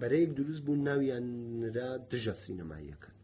بەرەیەک دروست بوون ناویان نرا دژە سینەماییەکان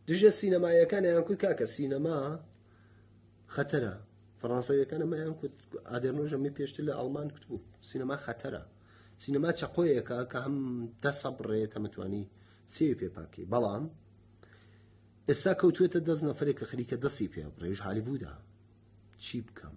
دژە سینەمایەکان یان کوی کاکە سینەما خەتەرە فەڕانسەویەکان ئەمەیان کوت ئادرنۆژەمی پێشتر لە ئەڵمان کوت بوو سینەما خەتەرە سینەما چەقۆیەکە کە هەم دە سەبڕێت هەمتوانی سێ پێپاکی بەڵام ئێستا کەوتوێتە دەست نەفرێک کە خەریکە دەستی پێ بڕێژ هالیبوودا چی بکەم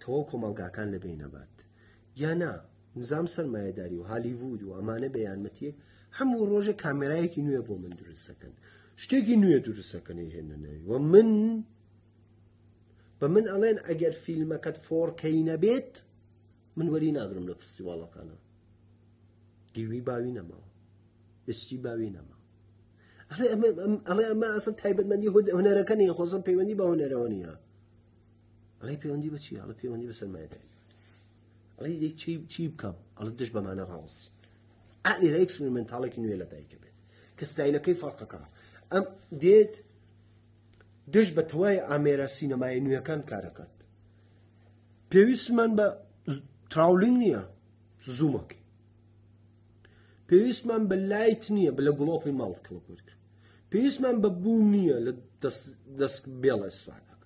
تەواو کۆمەڵگاکان لە بین ئەبات یا نا نزام سەرمایەداری و هالیڤود و ئەمانە بە یارمەتیەک هەموو ڕۆژە کامێرایەکی نوێ بۆ من دروستەکەن شتێکی نوێ دروستەکەنی هێنە ناوی و من بە من ئەڵێن ئەگەر فیلمەکەت فۆڕکەی نەبێت من وەری ناگرم لە فستیواڵەکانە دیوی باوی نەماوە ئستی باوی نەما ئەڵێ ئەمە ئەسە تایبەتمەندی هەنەرەکە نیە خۆزم پەیوەندی بە هەنەرەوە نیە ئەڵێ پەیوەندی بە چی ئەڵە پەیوەندی بە سەرمایەداری ئەڵێ دەی چی چی بکەم ئەڵە دش بەمانە ڕاوەسی ئالێرە ئەکسپریمنتاڵێکی نوێ لە دایکە بێت کە ستایلەکەی فەرقەکە ئەم دێت دش بە تەوای ئامێرە سینەمای نوێەکان کارەکەت پێویستمان بە تراولینگ نییە زوومەکەی پێویستمان بە لایت نییە بە لە گوڵۆپی ماڵ کڵپورکە پێویستمان بە بوو نییە لە دەست بێڵە ئیسفادەکە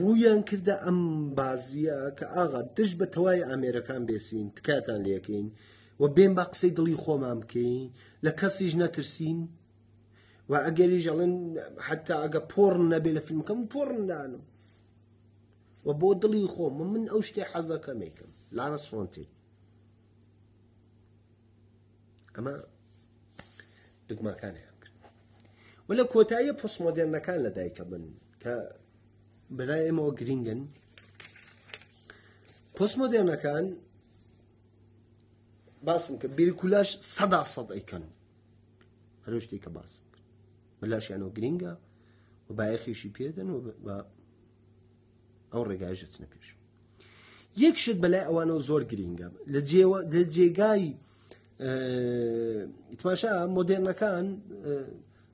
ڕوویان کردە ئەم بازیە کە ئاغا دژ بە تەوای ئامێرەکان بێسین تکاتان لەکەین و بێن بە قسەی دڵی خۆمان بکەین لە کەسیش نەترسین و ئەگەریش ئەڵێن حتا ئەگە پۆڕ نەبێ لە فیلمەکەم پۆڕندانم و بۆ دڵی خۆم من ئەو شتێ حەزەکەمێکم لارەس فۆنتین ئەمە دگماکانیان کرد و لە کۆتاییە پۆسمۆدررنەکان لە دایکە بن کە بەلای ئێمەوە گرینگن پۆستمۆدێرنەکان باسم کە بیرکولاش سەدا سەد ئەیکەن هەرو شتێک کە باسم بەلاشیانەوە گرینگە و بایەخیشی پێدەن و ئەو ڕێگایشە چنە پێش یەک شت بەلای ئەوانەوە زۆر گرینگە لە جێوە لە جێگای ئیتماشا مۆدێرنەکان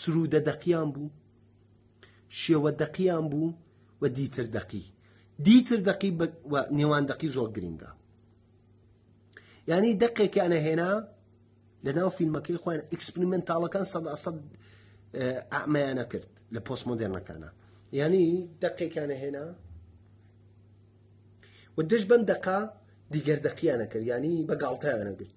سرودە دەقیان بوو شێوە دەقیان بوو و دیتر دەقی دیتر دەقی نێوان دەقی زۆر گرینگە یعنی دەقێکیانە هێنا لە ناو فیلمەکەی خۆیان ئەکسپریمنتاڵەکان سەد سەد ئەمەیانە کرد لە پۆست مۆدرنەکانە یعنی دەقێکیانە هێنا و دەش بەم دەقا دیگەر دەقییانە کرد ینی بە گاڵتەیانە گرت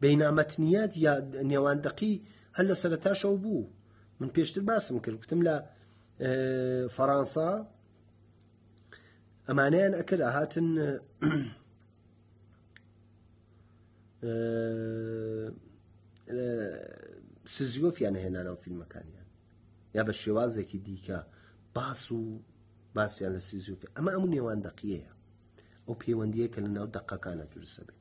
بینا متنیات یا نێوان دەقی هەر لە سەرتاشەوە بوو من پێشتر باسم کرد گوتم لە فەڕەنسا ئەمانیان ئەکرد هاتن سزیۆفیان هێنانەوە فیلمەکانیان یا بە شێوازێکی دیکە باس و باسییان لە سیزیۆفی ئەمە ئەم نێوان دەقیەیە ئەو پەیوەندیە کە لە ناو دەقەکانە دروستە بێت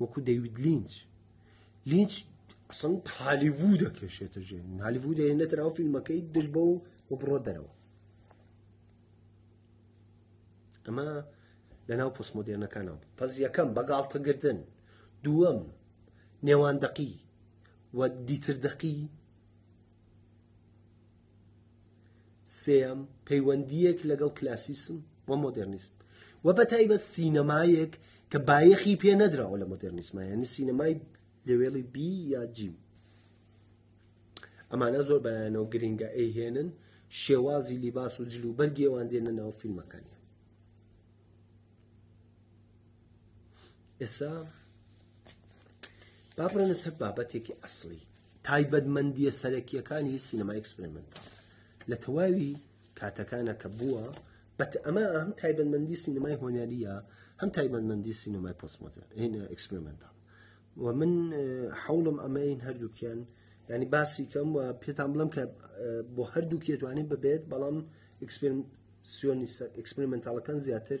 وەکو دەیوید لینچ لینچ ئەسڵ هالیڤوو دەکێشێتە ژێ هالیڤوو دەێنێتە ناو فیلمەکەی دژ بە و و بڕۆ دەرەوە ئەمە لە ناو پۆسمۆدێرنەکانەوە پەس یەکەم بەگاڵتەگردن دووەم نێوان دەقی و دیتر دەقی سێیەم، پەیوەندییەک لەگەڵ کلاسیسم و مۆدێرنیسم و بە تایبەت سینەمایەک کە بایەخی پێ نەدراوە لە مۆدێرنیسمە یعنی سینەمای لەوێڵی بی یا جیم ئەمانە زۆر بەلایەنەوە گرنگە ئەیهێنن شێوازی لیباس و جل و بەرگێوان دێنە ناو فیلمەکانی ئێسا بابڕێنە سەر بابەتێکی ئەسلی تایبەتمەندییە سەرەکییەکانی سینەمای ئێکسپریمەنتاڵ لە تەواوی کاتەکانە کە بووە بەت ئەمە هەم تایبەتمەندی سینەمای هۆنەریە هەم تایبەتمەندی سینەمای پۆسمۆتە هێنە ئەکسپریمنتال و من حوڵم ئەمەین هەردووکیان ینی باسی کەم و پێتان بڵم کە بۆ هەردووکیێتوانین ببێت بەڵام ئەکسپریمنتالەکان زیاتر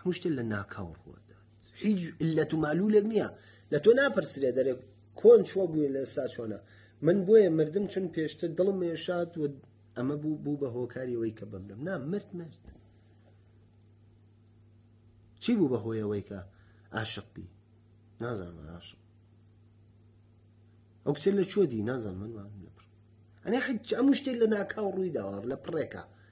هەموو شتێک لە ناکاو ڕوەدات هیچ علەت و معلولێک نییە لە تۆ ناپرسرێ دەرێ کۆن چۆ بووە لە ئێستا چۆنە من بۆیە مردم چون پێشتر دڵم مێشات و ئەمە بوو بوو بە هۆکاریەوەی کە بمرم نا مرد مرد چی بوو بە هۆیەوەی کە عاشق بی نازانم عاشق ئەو کچە لە چۆ دی نازان من ئەنێ حج ئەم شتێک لە ناکاو ڕووی داوە لە پڕێکە